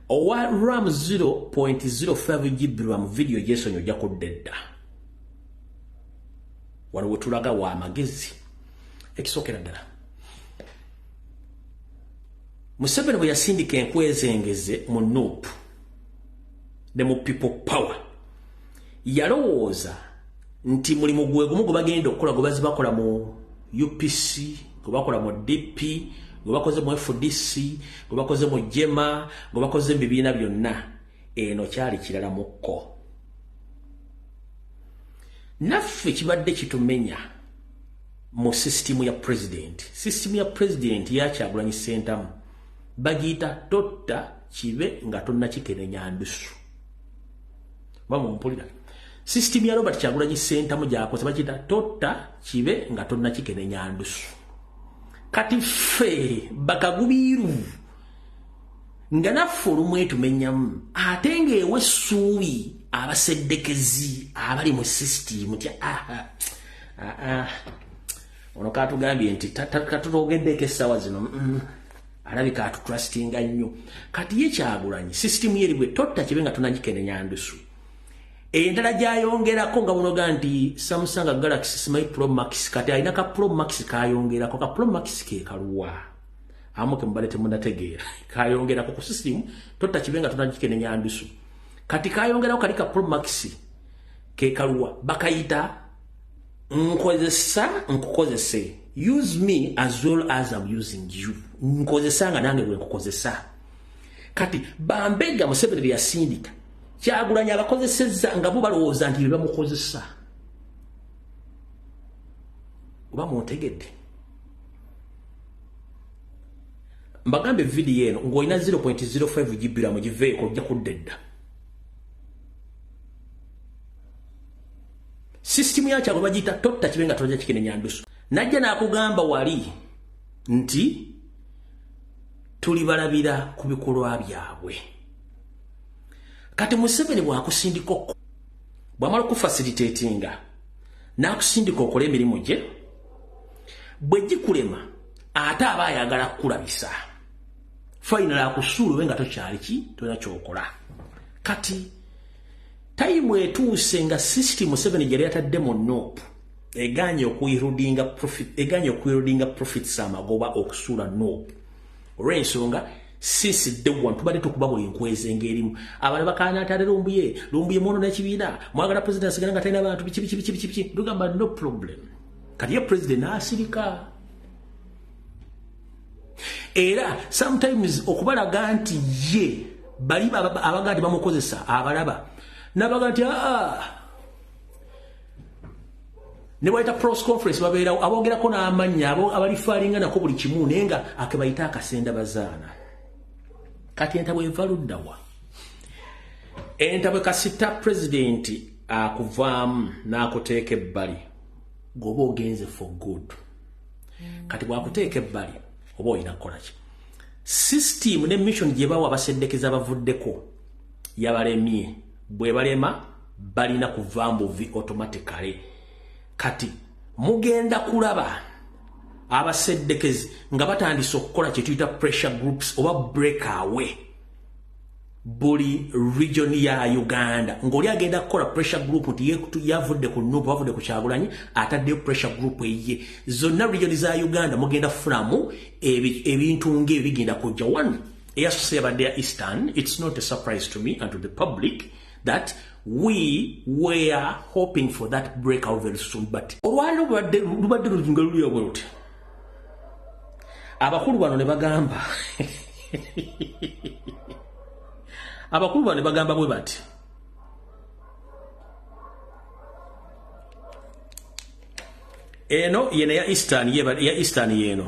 owa ram 0.05 gb ram vidiyo gyesonyi ojja kudda edda waliwo tulaga wa amagezi ekisookera ddala museveni bwe yasindika enkwezengeze mu nup ne mu people power yalowooza nti mulimu gwe gumu gwe bagenda okukola gwe bazi bakola mu upc gwe bakola mu dp gwe bakoze mu fdc gwe bakoze mu jema gwe bakoze mu bibiina byonna eno kyali kirala mukko naffe kibadde kitumenya mu sisitimu ya pulezidenti sisitimu ya pulezidenti yakyagulanyi sentamu bagiyita totta kibe nga tonna kikenenya ndusu Bamu mpulira. System ya Robert Kyagulanyi Sentamu gyakoze bakiyita totta kibe nga tonna kikenenya ndusu. Kati ffe bakagubiiru nga naffe olumu etumenyamu ate ng'ewe essuubi abaseddekezi abali mu system tya aha aha ono katugambye nti katutogeddeeko essaawa zino mm. alabika atutrustinga nnyo kati ye kyagulanyi sisitimu yeri bwe totta kibe nga tunagikenenya ndusu endala gyayongerako nga bunoga nti samusanga galaxy smy pro max kati alina ka pro max kayongerako ka pro max kekaluwa amuke mubale temunategeera kayongerako ku sisitimu totta kibe nga tunagikenenya ndusu kati kayongerako kali ka pro max kekaluwa bakayita nkozesa nkukozese use me as well as im using you nkozesa nga nange bwenkukozesa kati bambega museveni byeyasindika kyagulanyi abakozeseza nga bo balowooza nti bebamukozesa oba muntegedde mbagambe vidiyo eno ngaolina 0.05 gibiramu giveeko ojja kudda edda System ya kyabo bagita totta kibenga toja kikene nyandusu. Najja nakugamba wali nti tuli balabira ku bikolwa byabwe. Kati Museveni bwakusindika okko bwamala okufasilitatinga n'akusindika okola emirimu gye bwe gikulema ate aba ayagala kukulabisa fayinala akusuulwe nga tokyali ki tolina kyokola kati tayimu etuuse nga system museveni gyeyali atadde mu nup eganye okuirudinga profit eganye okuirudinga profits amagoba okusuula nup olwensonga since day one tubadde tukuba buli nkweza engerimu abale bakana atale lumbuye lumbuye mwono nekibiina mwagala president asigala nga talina bantu biki biki biki biki biki tugamba no problem kati ye president asirika era sometimes okubalaga nti ye bali abagaa ti bamukozesa abalaba nabaga nti aa ah, ah. nebayita pros conference babeerawo abogerako n'amannya abo abalifaalinga nako buli kimu naye nga akebayita akasenda bazaana kati entabwe eva luddawa entabwe kasita pulezidenti akuvaamu n'akuteeka ebbali goba ogenze for good kati bwakuteeka ebbali oba olina kukolaki system ne mission gye bawa abaseddekeza bavuddeko yabalemye bwe balema balina kuva mbuvi automatically kati mugenda kulaba abaseddekezi nga batandise okukola kyetuyita pressure groups oba break away buli region ya Uganda ngoli agenda kukola pressure group nti yavudde ku nubu avudde ku kyagulanyi atadde pressure group eye zonna region za Uganda mugenda furamu ebintu e nge bigenda kujja one eyasuse yabadde ya Eastern it's not a surprise to me and to the public that we were hoping for that breakout very soon but olwalo lubadde lubadde lujinga lulya bweruti abakulu bano ne bagamba abakulu bano ne bagamba bwe bati eno yena ya eastern ya eastern yeno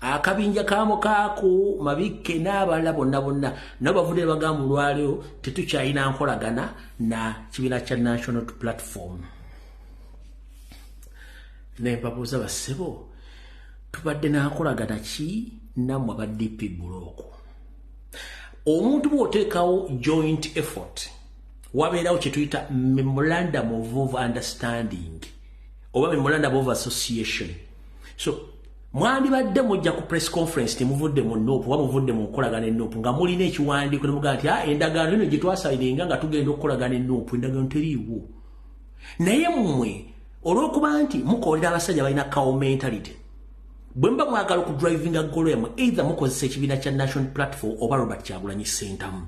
akabinja ka mukaaku mabikke n'abalala bonna bonna nabo bavudde bagamba olwaliro tetukyalina nkolagana na kibiina kya national platform naye babuuza bassebo tubadde nankolagana ki nammwe aba dp bulooku omuntu bw'oteekawo joint effort wabeerawo kye tuyita memorandum of understanding oba memorandum of association so mwandibadde mujja ku press conference temuvudde mu nup oba muvudde mu nkolagana enup nga mulina ekiwandiiko nemugaa nti ah, endagaano eno gye twasalirenga nga tugenda okukolagana enup endagaano teriiwo naye mmwe olw'okuba nti mukolera abasajja balina cow mentality bwe muba mwagala okudrivinga golo yamwe either mukozesa ekibiina kya national platform oba robert kyagulanyi sentamu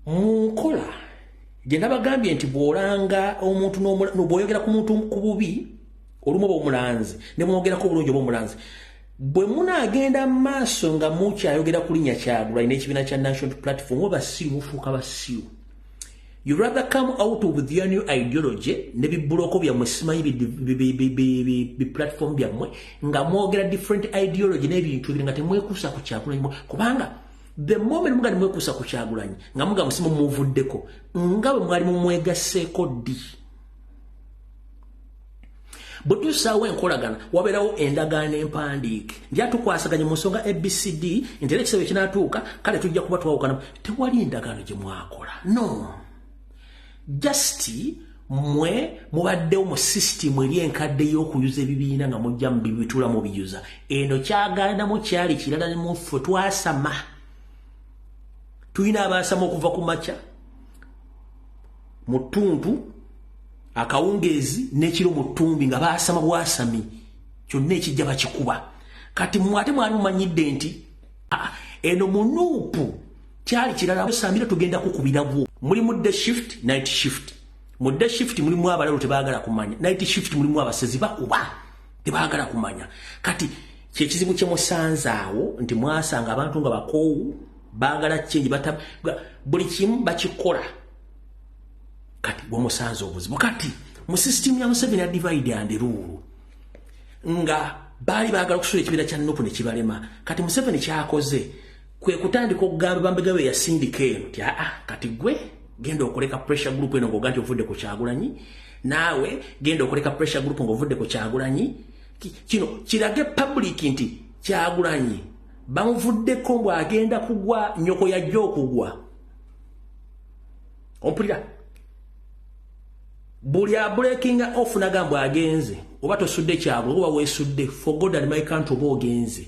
mu nkola gye nabagambye nti bw'olanga omuntu bw'oyogera ku muntu ku bubi olumu oba omulanzi ne mwogerako obulungi oba omulanzi bwe munaagenda mu maaso nga mukyayogera ku linnya kyagulanyi n'ekibiina kya national platform oba basiru mufuuka basiru you rather come out with your new ideology ne bibuloko byammwe simanyi biplatform byammwe nga mwogera different ideology n'ebintu ebiri nga temwekuusa ku kyagulanyi kubanga the moment mugali mwekuusa ku kyagulanyi nga muga musimu muvuddeko nga bwe mwali mumwegaseeko ddi bwetusaawo enkolagana wabeerawo endagaano empandiike nja tukwasaganye mu nsonga abcd nti era ekisebo ekinatuuka kale tujja kuba twawukana tewali endagaano gye mwakola no just mwe mubaddewo mu system eri enkadde y'okuyuza ebibiina nga mujja mu bibitula mu biyuza eno kyagaanamu kyali kirala ne muffe twasama tulina abaasama okuva ku makya mu ttuntu akawungeezi n'ekiro mu ttumbi nga baasama bwasami kyonna ekijja bakikuba kati mwe ate mwali mumanyidde nti ah, eno munuupu kyali kirala samira tugenda kukubiragwo mulimu the shift night shift mu the shift mulimu abalalu tebaagala kumanya night shift mulimu abasezi bakuba tebaagala kumanya kati kyekizibu kyemusanzaawo nti mwasanga abantu nga bakoowu baagala kyengi buli kimu bakikola kati gwomusanze obuzibu kati mu system ya museveni ya divide and rule nga baali baagala okusula ekibiina kya nupu ne kibalema kati museveni kyakoze kwe kutandika okugamba bambega be yasindika eno ti aa kati gwe genda okoleka pressure group eno ng'oga nti ovudde ku kyagulanyi naawe genda okoleka pressure group ng'ovudde ku kyagulanyi kino kirage public nti kyagulanyi bamuvuddeko mbw'agenda kugwa nyoko yajja okugwa ompulira buli abulekinga off nagambwa agenze oba tosudde kyabwe oba wesudde for god and my country oba ogenze